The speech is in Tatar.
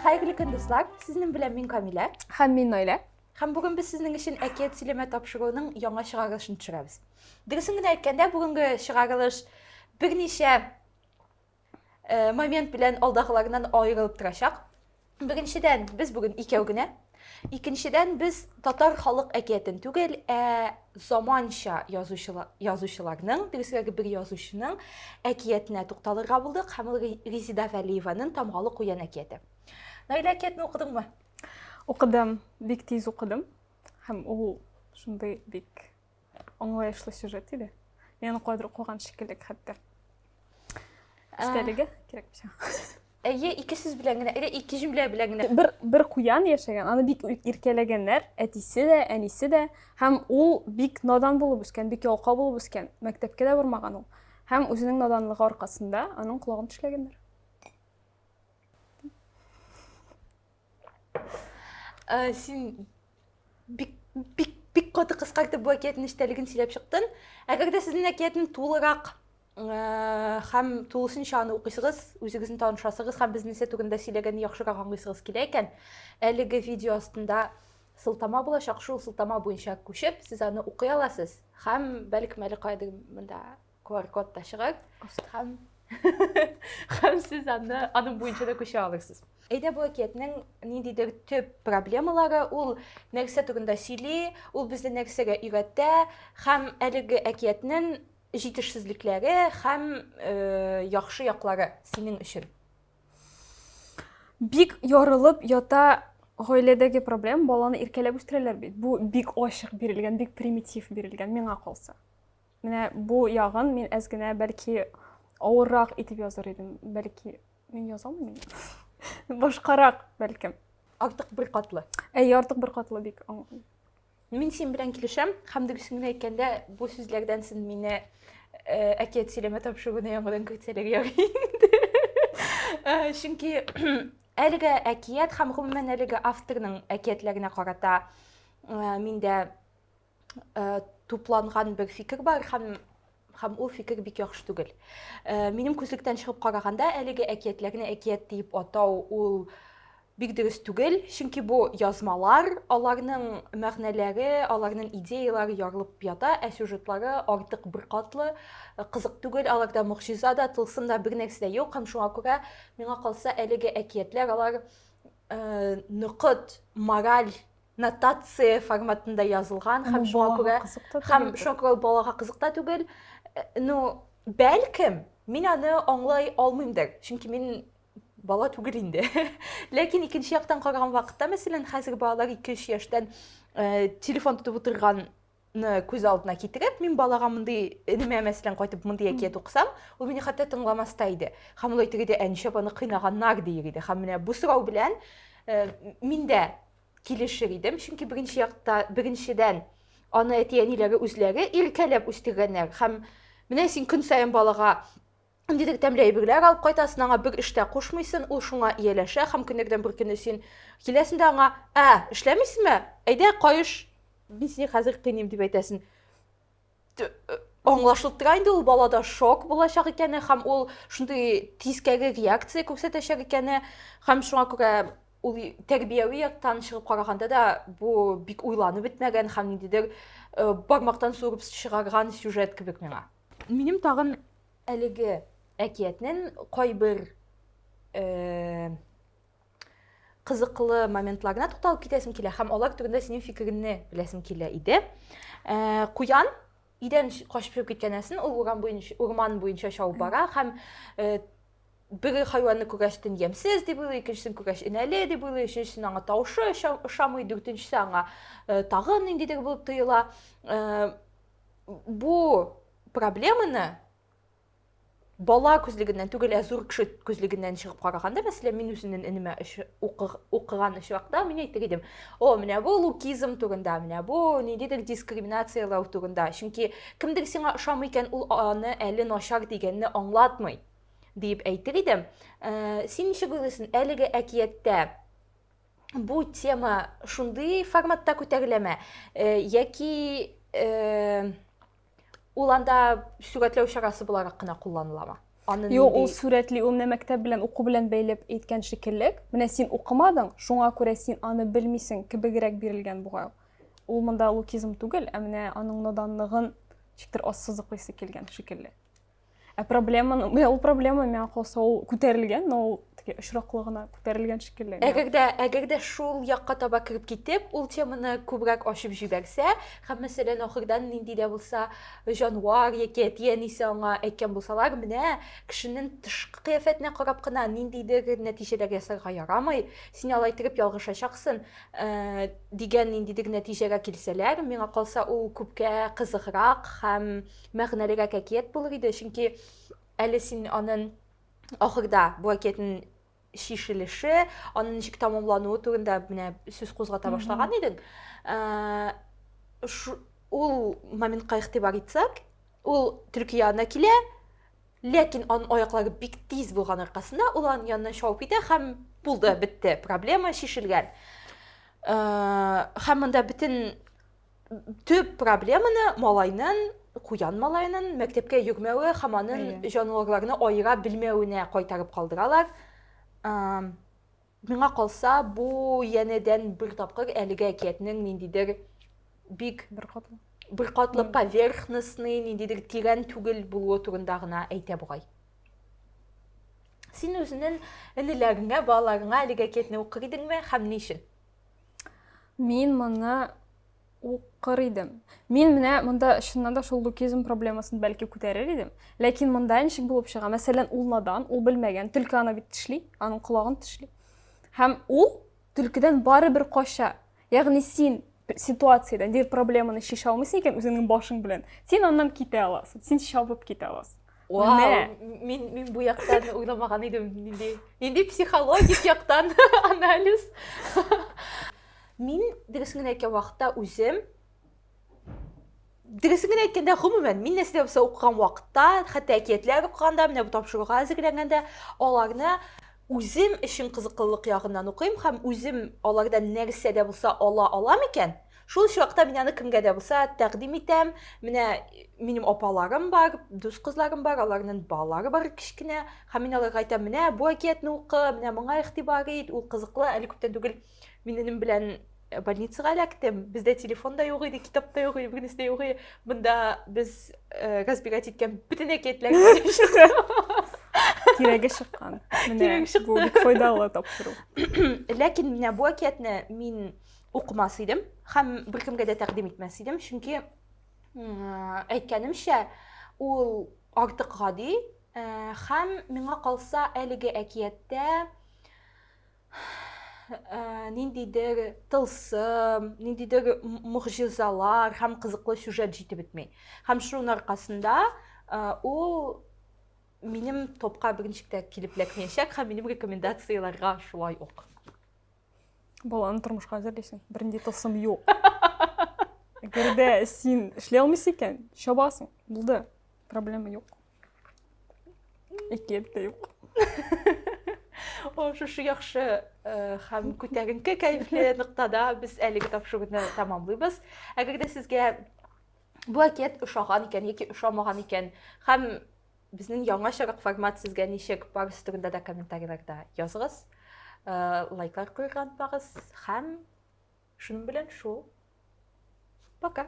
Хәерле көн, дуслар! Сезнең белән мин Камилә. Һәм мин Наилә. Һәм бүген без сезнең өчен әкият сөйләмә тапшыруының яңа чыгарылышын төшерәбез. Дөресен генә әйткәндә, бүгенге чыгарылыш берничә э, момент белән алдагыларыннан аерылып торачак. Бегенчедән, без бүген икәү генә. Икенчедән, без татар халык әкиятен түгел, ә заманча язучыларның, дөресрәге бер язучының әкиятенә тукталырга булдык, һәм ул Резида Вәлиеваның Тамгалы куян әкияте. Наилә әкиятен укыдыңмы? Укыдым, бик тиз укыдым. Һәм ул шундый бик Аңлаешлы сюжет иде. Мин кадр куган шикелле хәтта. Истәлеге кирәк бишә. Әйе, ике сүз белән генә, или ике җөмлә белән генә. Бер бер куян яшәгән, аны бик иркәләгәннәр, әтисе дә, әнисе дә, һәм ул бик надан булып үскән, бик ялка булып үскән, мәктәпкә дә бармаган ул. Һәм үзенең наданлыгы аркасында аның колагын тешләгәннәр. Ә, син бик, бик, бик каты кыскартып бу әкиятнең нечтәлеген сөйләп чыктың. Әгәр дә сезнең әкиятне тулырак э, һәм тулысынча аны укыйсыгыз, үзегезне танышасыгыз һәм безнең нәрсә турында сөйләгәнне яхшырак аңлыйсыгыз килә икән, әлеге видео астында сылтама булачак, шул сылтама буенча күчеп, сез аны укый аласыз һәм бәлкем әле кайдыр монда qr kod да чыгып һәм һәм сез аны аның буенча да күчә алырсыз әйдә бу әкиятнең ниндидер төп проблемалары ул нәрсә турында сөйли ул безне нәрсәгә өйрәтә һәм әлеге әкиятнең җитешсезлекләре һәм э, яхшы яклары синең өчен бик ярылып ята гаиләдәге проблем баланы иркәләп үстерәләр бит бу бик ачык бирелгән бик примитив бирелгән миңа калса Менә бу ягын мин әз генә бәлки авыррак итеп языр идем. Бәлки мин яза алмыйм. Башкарак бәлкем. Артык бер катлы. Әй, артык бер катлы бик. Мин син белән килешәм, һәм дөресен генә әйткәндә, бу сүзләрдән син мине э, әкият сөйләмә тапшыруны яңадан көтсәләр ярый инде. Э, чөнки әлеге әкият һәм гомумән әлеге авторның әкиятләренә карата э, миндә э, тупланган бер фикер бар һәм һәм ул фикер бик яхшы түгел. Э, минем күзлектән чыгып караганда, әлеге әкиятләрне әкият дип атау ул бик дөрес түгел, чөнки бу язмалар, аларның мәгънәләре, аларның идеяләре ярылып ята, ә сюжетлары артык беркатлы, э, кызык түгел, аларда мөгъҗиза да, тылсым да бер нәрсә дә юк, һәм шуңа күрә миңа калса әлеге әкиятләр алар э, ныгыт мораль нотация форматында язылган һәм шуңа күрә һәм шуңа күрә балага кызык та түгел э, ну бәлкем мин аны аңлай алмыймдыр чөнки мин бала түгел инде ләкин икенче яктан караган вакытта мәсәлән хәзер балалар ике өч яшьтән э, телефон тотып утырган ны күз алдына китереп мин балага мондый энемә мәсәлән кайтып мондый әкият укысам ул мине хәтта тыңламас та иде һәм ул әйтер иде әничә апаны кыйнаганнар дияр иде һәм менә бу сорау белән э, мин дә килешер идем чөнки беренче якта беренчедән аны әти әниләре үзләре иркәләп үстергәннәр һәм менә син көн саен балага Дидек тәмле әйберләр алып кайтасын, аңа бер эштә кушмыйсын, ул шуңа ияләшә һәм көннәрдән бер көнне син киләсен дә аңа, ә, эшләмисеме? Әйдә, каеш, мин сине хәзер кыйныйм, дип әйтәсен. Аңлашылып тора инде ул балада шок булачак икәне һәм ул шундый тискәре реакция күрсәтәчәк икәне һәм шуңа күрә ул тәрбияви яктан чыгып караганда да бу бик уйланып бетмәгән һәм ниндидер э, бармактан суырып чыгарган сюжет кебек миңа. Минем тагын Әлеге әкиятнен кайбер кызыклы моментларына тукталып китәсем килә һәм алар турында синең фикереңне беләсем килә иде. Ә, куян идән качып чыгып киткәнәсен ул урам буенча урман буенча чабып бара һәм ә, бер хайванны күрәчтен ямсез дип уйлый, икенчесен күрәч инәле дип уйлый, өченчесен аңа тавышы ошамый, дүртенчесе аңа ә, тагын ниндидер булып тоела. Ә, бу проблеманы бала күзлегеннән түгел, ә зур кеше күзлегеннән чыгып караганда, мәсәлән, мин үземнең энемә укыган очракта мин әйтер идем, о, менә бу лукизм турында, менә бу ниндидер дискриминацияләү турында. Чөнки кемдер сиңа ошамый икән, ул аны әле начар дигәнне аңлатмый, диеп әйтер идем. Э, син ничек уйлыйсың, әлеге әкияттә бу тема шундый форматта күтәреләме? Э, яки э, Ул анда сүгәтләү чарасы буларак кына кулланыламы? Аны Юк, ул сүрәтли, ул менә мәктәп белән уку белән бәйләп әйткән шикеллек. Менә син укымадың, шуңа күрә син аны белмисең кебегрәк бирелгән бугай. Ул монда лукизм түгел, ә менә аның наданлыгын ничектер ассызыклыйсы килгән шикелле. Ә проблеманы, ул проблема миңа калса ул күтәрелгән, но ул теге очраклы гына күтәрелгән шикелле. Әгәр дә, әгәр дә шул якка таба кереп китеп, ул теманы күбрәк ачып җибәрсә, һәм мәсәлән ахырдан нинди дә булса җанвар яки әти-әнисе аңа әйткән булсалар, менә кешенең тышкы кыяфәтенә карап кына ниндидер нәтиҗәләр ясарга ярамый, син алай итеп ялгышачаксың, э, дигән ниндидер нәтиҗәгә килсәләр, миңа калса ул күпкә кызыграк һәм мәгънәлерәк әкият булыр иде, чөнки әле син анын ахырда бу әкиятнең чишелеше, анын ничек тамамлануы турында менә сүз кузгата башлаган идең. Ул моментка игътибар итсәк, ул төлке янына килә, ләкин анын аяклары бик тиз булган аркасында ул анын янына шауып китә һәм булды, бетте, проблема чишелгән. Һәм монда бөтен төп проблеманы малайнын куян малаенын мәктәпкә йөрмәве һәм анын җанварларны аера белмәвенә кайтарып калдыралар миңа калса бу янәдән бер тапкыр әлеге әкиятнең ниндидер бик беркатлы беркатлы поверхностный ниндидер тирән түгел булуы турында гына әйтә бугай син үзенең энеләреңә балаларыңа әлеге әкиятне укыр идеңме һәм ни өчен Мин моны укыр идем. Мин менә монда чыннан да шул лукизм проблемасын бәлки күтәрер идем. Ләкин монда ничек булып чыга? Мәсәлән, ул надан, ул белмәгән, төлке аны бит тешли, аның колагын тешли. Һәм ул төлкедән барыбер кача. Ягъни син ситуациядән, дир проблеманы шиша алмыйсың икән үзеңнең башың белән. Син аннан китә аласың, син чабып китә аласың. Вау, мин мин бу яктан уйламаган идем. Нинди нинди психологик яктан анализ. Мин дөресен генә әйткән вакытта үзем дөресен генә әйткәндә, гомумән, мин нәрсә булса укыган вакытта, хәтта әкиятләр укыганда, менә бу тапшыруга әзерләнгәндә, аларны үзем өчен кызыклылык ягыннан укыйм һәм үзем алардан нәрсә дә булса ала алам икән, Шул чакта мин аны кемгә дә булса тәкъдим итәм. Менә минем апаларым бар, дус кызларым бар, аларның балалары бар кечкенә. Һәм мин аларга әйтәм, менә бу әкиятне укы, менә моңа игътибар ит, ул кызыклы. Әле күптән түгел мин энем белән э, больницага эләктем. Бездә телефон да юк иде, китап та юк иде, бүгенесе дә юк иде. Монда без э, разбирать иткән бөтен әкиятләрне Кирәге чыккан. Менә Кирәге чыкты. бу бик файдалы тапшыру. Ләкин менә бу әкиятне мин укымас идем һәм беркемгә дә тәкъдим итмәс идем чөнки әйткәнемчә ул артык гади һәм миңа калса әлеге әкияттә ниндидер тылсым ниндидер могҗизалар һәм кызыклы сюжет җитеп бетми һәм шуның аркасында ул минем топка берничек тә килеп эләкмәячәк һәм минем рекомендацияләргә шулай ук баланы тормышка әзерлисең бернинди тылсым юк әгәр дә син эшли алмыйсың икән чабасың булды проблема юк әкият тә юк шушы яхшы э, һәм күтәренке кәефле ноктада без әлеге тапшыруны тәмамлыйбыз әгәр дә сезгә бу әкият ошаган икән яки ошамаган икән һәм Безнең яңачарак формат сезгә ничек? Барысы турында да комментарийларда языгыз. Э, лайклар куярга онытмагыз һәм шуның белән шул. Пока.